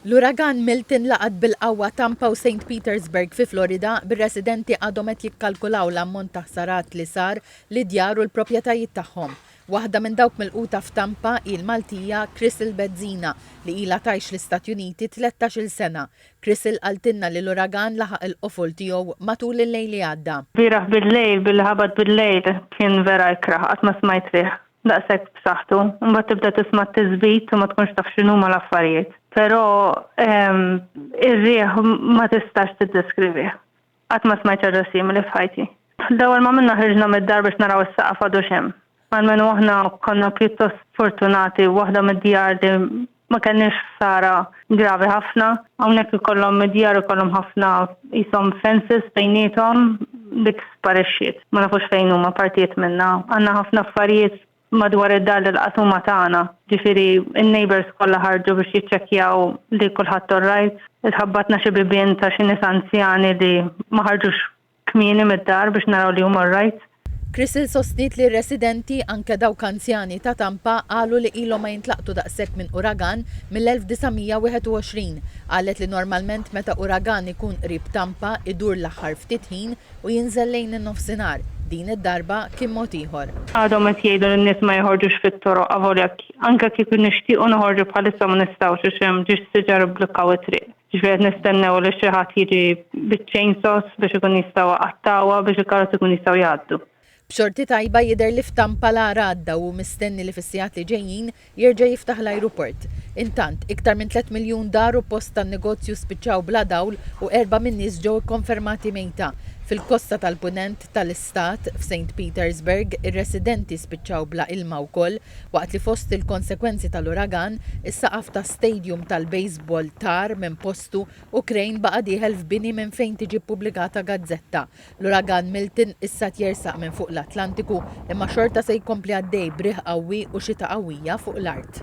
L-Uragan Milton laqat bil-qawwa Tampa u Saint Petersburg fi Florida, bir-residenti għadhom qed jikkalkulaw l-ammont ta' ħsarat li sar lid-djar u l-proprjetajiet tagħhom. Waħda minn dawk milquta f'Tampa hi l-Maltija Chrisl Bezzina li ilha tgħix l-Istati Uniti tlettax-il sena. Chrisl qaltilna li l-uragan laħaq il-qofol tiegħu matul il-lejl li għadda. Lbieraħ bil-lejl billi ħabat bil-lejl kien vera ikrah, qatt ma smajt riħ daqshekk b'saħħtu, imbagħad tibda tisma' t-tiżbit u ma tkunx taf x'inhuma l-affarijiet. Però ehm, ir-riħ ma tistax tiddeskrivih. Qatt ma smajt ħaġa simili f'ħajti. L-ewwel ma minna ħriġna mid-dar biex naraw is-saqaf għadux hemm. Almenu aħna konna pjuttost fortunati, waħda mid-djar li ma kellniex ħsara gravi ħafna. Hawnhekk ikollhom id-djar ikollhom ħafna qishom fences bejniethom, dik sparixxiet. Ma nafux fejn huma partijiet minnha. Għandna ħafna affarijiet madwar id-dar li laqas huma tagħna, ġifieri n-neighbours kollha ħarġu biex jiċċekkjaw li kulħadd all right. Itħabbatna xi bibien ta' xi nies anzjani li ma ħarġux kmieni mid-dar biex naraw li huma alright. Crystal sostniet li r-residenti, anke dawk anzjani, ta' Tampa qalu li ilhom ma jintlaqtu daqshekk minn uragan mill-1921. Qalet li normalment meta uragan ikun qrib Tampa idur l-aħħar ftit ħin u jinżel lejn in-nofsinhar. Din id-darba kien mod ieħor. Għadhom qed jgħidu li n-nies ma joħorġux fit-toroq avolja anke kieku nixtiequ noħorġu bħalissa ma nistgħux għax hemm ġiex siġar ibblukkaw it-triq. Jiġifieri qed nistennew li xi ħadd jiġi biċ-chainsaws biex ikun jista' qattgħuha biex il-karozzi jkunu jistgħu jgħaddu. B'xorti tajba jidher li f'Tampa l-agħar għadda u hu mistenni li fis-sigħat li ġejjin jerġa' jiftaħ l-ajruport. Intant, iktar minn tliet miljun dar u post tan-negozju spiċċaw bla dawl u erba' min-nies ġew ikkonfermati mejta. Fil-kosta tal-Punent tal-istat, f'Saint Petersburg, ir-residenti spiċċaw bla ilma wkoll waqt li fost il-konsegwenzi tal-uragan, is-saqaf ta' Stadium tal-baseball tar minn postu u crane baqa' dieħel f'bini minn fejn tiġi ppubblikata gazzetta. L-Uragan Milton issa qed jersaq minn fuq l-Atlantiku imma xorta se jkompli għaddej b'riħ qawwi u xita qawwija fuq l-art.